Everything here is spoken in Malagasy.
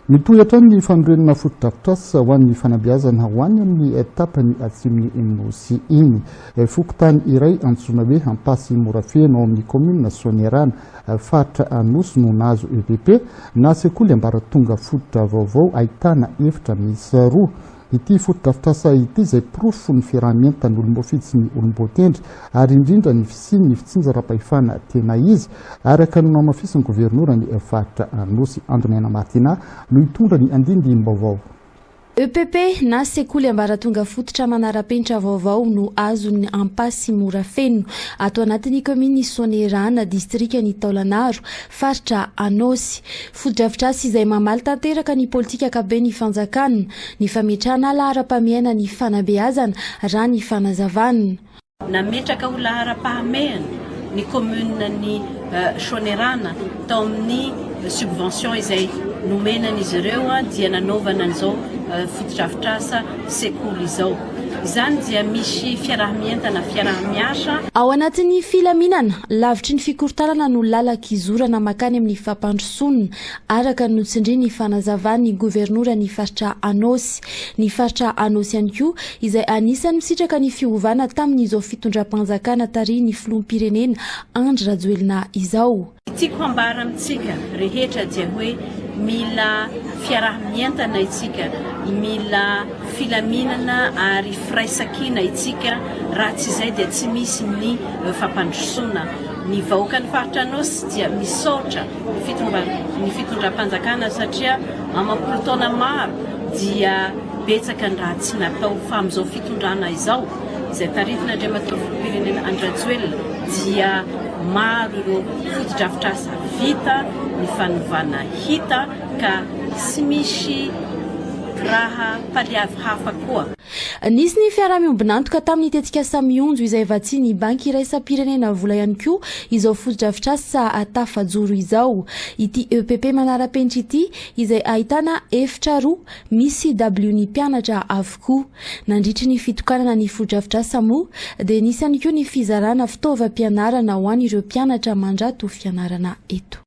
Mitohy hatrany ny fanorenana fotodrafitrasa ho an'ny fanabeazana ho any amin'ny tapany atsimon'i Nosy iny. Fokontany iray antsoina hoe Ampasy Morafeno ao amin'ny kaominina Soanierana, faritra Anosy no nahazo EVP na sekoly ambaratonga fototra vaovao ahitana efitra miisa roa. Ity fotodrafitrasa ity izay porofo ny fiaraha-mientan' olom-boafidy sy ny olom-boatendry ary indrindra ny fisian' ny fitsinjaram-pahefana tena izy, araka ny nohamafisin' ny Governora ny faritra Anosy, Andry Naina Martina, no hitondra ny andinindini-baovao. EPP na sekoly ambaratonga fototra manara-penitra vaovao no azon' ny Ampasimorafeno, ato anatin' ny kaomin' i Soanierana, distrikan' i Taolagnaro. faritra Anôsy. Fotodrafitrasa izay mamaly tanteraka ny politika ankapoben'ny fanjakana ny fametrahana laharam-pahamehana ny fanabeazana, raha ny fanazavana. Nametraka ho laharam-pahamehana ny kaominina ny Soanierana tao amin'ny subvention izay nomena an'izy ireo dia nanaovana an'izao fotodrafitrasa sekoly izao. Izany dia misy fiaraha-mientana, fiaraha-miasa. Ao anatin'ny filaminana, lavitry ny fikorontanana no lalan-kizorana makany amin'ny fampandrosoana, araka ny notsindrian'ny fanazavan'ny governoran'ny faritra Anôsy. Ny faritra Anôsy ihany koa, izay anisan'ny misitraka ny fiovana tamin'izao fitondram-panjakana tarihin'ny filoham-pirenena Andry Rajoelina izao. Tiako hambara amintsika rehetra dia hoe mila fiaraha-mientana isika, mila filaminana ary firaisankina isika raha tsy izay dia tsy misy ny fampandrosoana. Ny vahoakan'ny faritra Anôsy dia misaotra ny fitondram-panjakana satria amam-polo taona maro dia betsaka ny raha tsy natao fa amin'izao fitondrana izao izay tarihin'Andriamatoa Filoham-pirenena Andry Rajoelina dia maro ireo fotodrafitrasa vita, ny fanovana hita ka tsy misy raha paliavy hafa koa. Nisy ny fiaraha-miombon'antoka tamin'ny tetikasa Mionjo izay vatsian'ny Banky Iraisam-pirenena vola ihany koa izao fotodrafitrasa tafajoro izao. Ity EPP manara-penitra ity izay ahitana efitra roa misy dabilion'ny mpianatra avokoa. Nandritry ny fitokanana ny fotodrafitrasa moa dia nisy ihany koa ny fizarana fitaovam-pianarana ho an'ireo mpianatra mandrato fianarana eto.